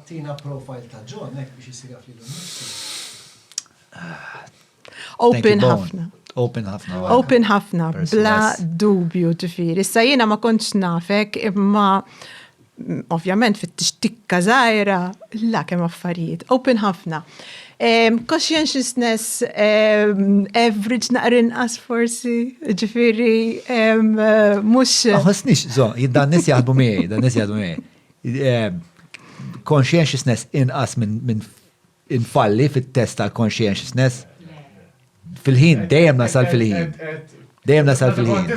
Tina profile ta' John, hekk biex isir jaf lilu nnifsu. Open ħafna. Open ħafna. Open ħafna, bla dubju ġifiri. Issa jiena ma kontx nafek imma ovvjament fit tikka zaħira, la kem affarijiet, open ħafna. Um, conscientiousness um, average naqrin as forsi, ġifiri, um, mux. Għasnix, zo, jiddan nis jaħdmu miej, dan nis jaħdmu miej. Eh, conscientiousness inqas minn infalli fit-test tal-conscientiousness fil-ħin, dejjem nasal fil-ħin. Dejjem nasal fil-ħin.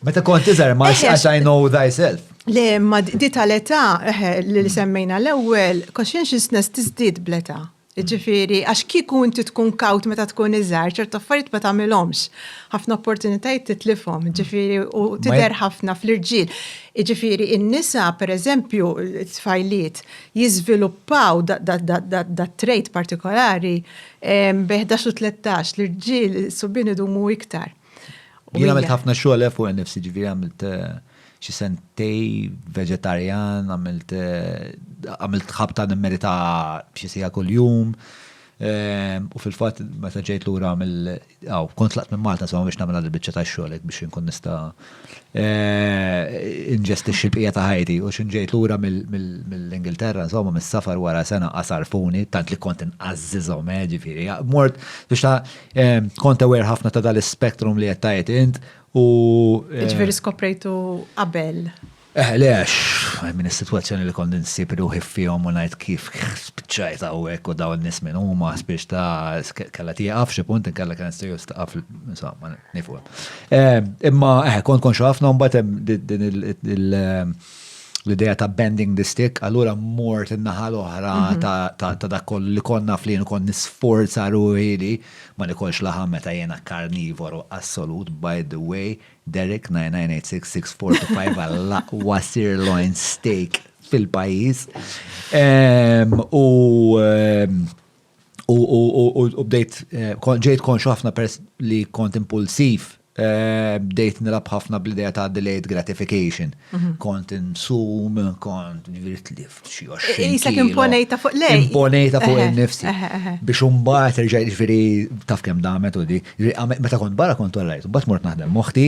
Meta kont tiżar, ma as I know thyself. Le, ma di tal-età eh, li semmejna l-ewwel, conscientiousness tiżdied bl-età. Jiġifieri, għax kieku inti tkun kawt meta tkun iżgħar, ċertu affarijiet ma tagħmilhomx. Ħafna opportunitajiet titlifhom, jiġifieri u tidher ħafna fl-irġiel. Jiġifieri n-nisa, pereżempju, t-tfajliet jiżviluppaw dat-trait partikolari bejn ħdax u tlettax, l-irġiel, is-subien idumu iktar. Jien għamilt ħafna xogħol fuq innifsi, jiġifieri għamilt xi sentej veġetarjan, għamilt għamilt ħabta nimmerita xi siegħa kuljum. U fil-fatt meta ġejt lura mill aw kont laqt minn Malta sewa biex nagħmel il-biċċa tax-xogħol hekk biex inkun nista' inġestixxi l-bqija ta' ħajti. U x'int ġejt lura mill-Ingilterra insomma mis-safar wara sena qasarfuni tant li kont inqażżiżhom eh, ġifieri. Mort biex ta' kont aware ħafna ta' dal-ispectrum li qed tgħid int U. Eh, Ġveri skoprejtu qabel. Eh, le, għax, minn situazzjoni li kondin s-sib ruħi fihom u najt kif spiċċajt għawek u daw n-nis minn huma spiċ ta' kalla tieqaf xi punt inkella kien s-siju staqaf, insomma, nifu. Eh, imma, eh, kont konxu ħafna mbatem din il- eh, l-ideja ta' bending the stick, allura mort in-naħa l-oħra mhm. ta' dak li konna flin u kon nisforza ruħi li Ma nikolx laħam meta jiena karnivoru assolut by the way Derek 99866425 għall-aqwa sirloin steak fil-pajjiż. Ehm, u ehm, u bdejt ġejt konxu ħafna pers li kont impulsiv Bdejt nilgħab ħafna bl-idea ta' delayed gratification. Kont insum, kont ġifieri tlift xi 20 kilo. Isek imponejta fuq lejn. Imponejta fuq innifsi. Biex imbagħad irġa' ġifieri taf kemm damet u di. Meta kont barra kont orajt, imbagħad mort naħdem moħħti,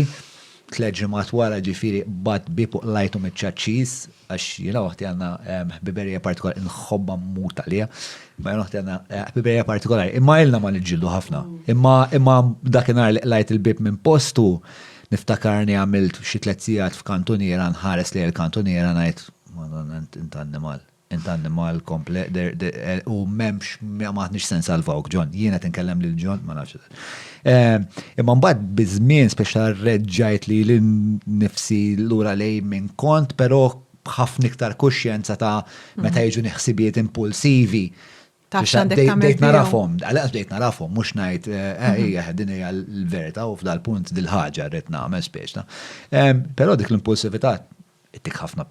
tliet ġimgħat wara ġifieri bad bieb u qlajtu miċ-ċaċċis. għax jiena waħdi għandna ħbiberija partikolari, nħobba mmut għalija, ma jiena waħdi għandna ħbiberija partikolari. Imma ilna ma niġġieldu ħafna. Imma imma dakinhar li qlajt il-bib minn postu niftakarni għamilt xi tliet sigħat f'kantuniera nħares li l-kantuniera ngħid Madonna int annimal. Int annimal komple u m'hemmx ma maħniex se nsalvawk John. Jiena qed inkellem lil John ma nafx. Eh, imma mbagħad biż-żmien speċa reġġajt li l-nifsi lura lej minn kont, però b'ħafna iktar kuxjenza ta' meta mhm. jiġu neħsibiet impulsivi. Bdejt narafhom, għalqas bdejt narafhom, mhux ngħid eh, eh, mhm. hija din hija l-verità u f'dal punt dil-ħaġa rrid nagħmel speċta. Però dik l-impulsività tik ħafna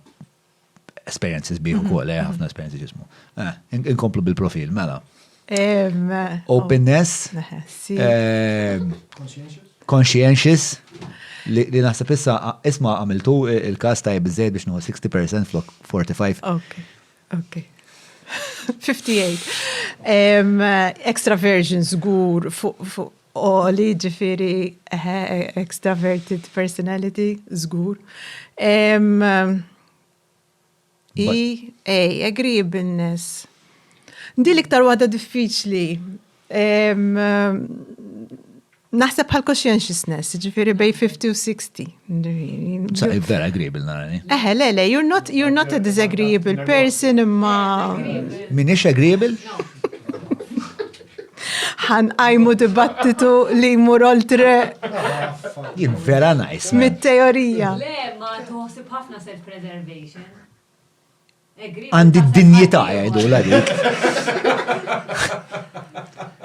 Esperjenzi sbieħ ukoll, eh, ħafna esperjenzi ġismu. Eh, in- Inkomplu bil-profil, mela. Em, Openness, Neħessi. eh, conscientious, li li naħseb issa a- isma għamiltu eh, il-kas tajb iżejjed biex nuħu 60% flok 45. Ok, ok. 58. Em, extraversion żgur fuq fuq għoli, ġifieri extraverted personality, żgur. EA, agreeableness. Din iktar waħda diffiċli. Naħseb bħal conscientiousness, ġifiri bej 50 u 60. Sa' vera agreeable narani. Eħe, le, le, you're not, you're not a disagreeable person imma. Minix agreeable? ħan għajmu dibattitu li jmur oltre. Jien vera najs. Mit-teorija. Le, ma tuħsib ħafna self-preservation. Għandi d-dinjità jgħidu la dik.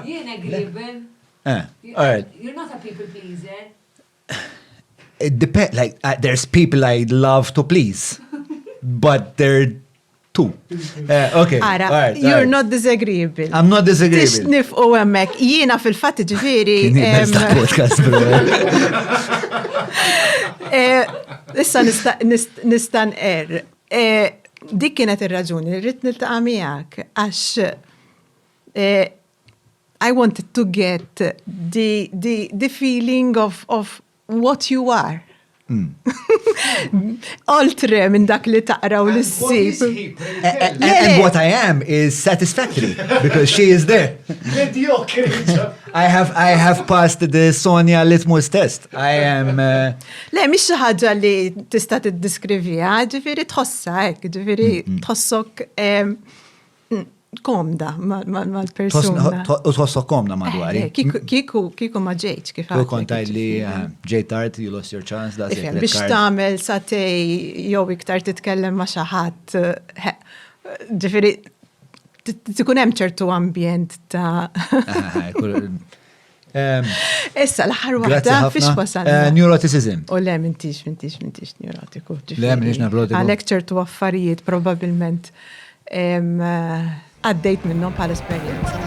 Jien agreeable. Eh. You're not a people pleaser. It depends, like, uh, there's people I love to please, but they're two. Uh, okay. Ara, right, you're right. not disagreeable. I'm not disagreeable. Tix nifqu emmek. Jiena fil-fat ġifiri. podcast, bro. Eh, issa nistan er. Eh, dik kienet il-raġuni, rrit nil-taqa miegħek, għax eh, I wanted to get the, the, the feeling of, of what you are. Hmm. Oltre minn dak li taqra u l-sib. And what I am is satisfactory because she is there. I have I have passed the Sonia Litmus test. I am uh, Le mhix xi ħaġa li tista' tiddiskrivija, ġifieri tħossha hekk, ġifieri mm, mm. tħossok komda mal-persuna. U tħossok komda madwari. Eh, eh, kiku, kiku ma ġejċ kif għal. Kont li eh, ġejt tard, you lost your chance, da Biex tamel satej jew iktar titkellem ma xaħat. Ġifiri, tikun hemm ċertu ambjent ta' Issa l-aħħar waħda fiex wasal. Eh, neuroticism. U le mintix, mintix, mintix neurotiku. Le mintix neurotiku. Għalek ċertu affarijiet probabilment eh, għaddejt minnhom bħal esperjenza.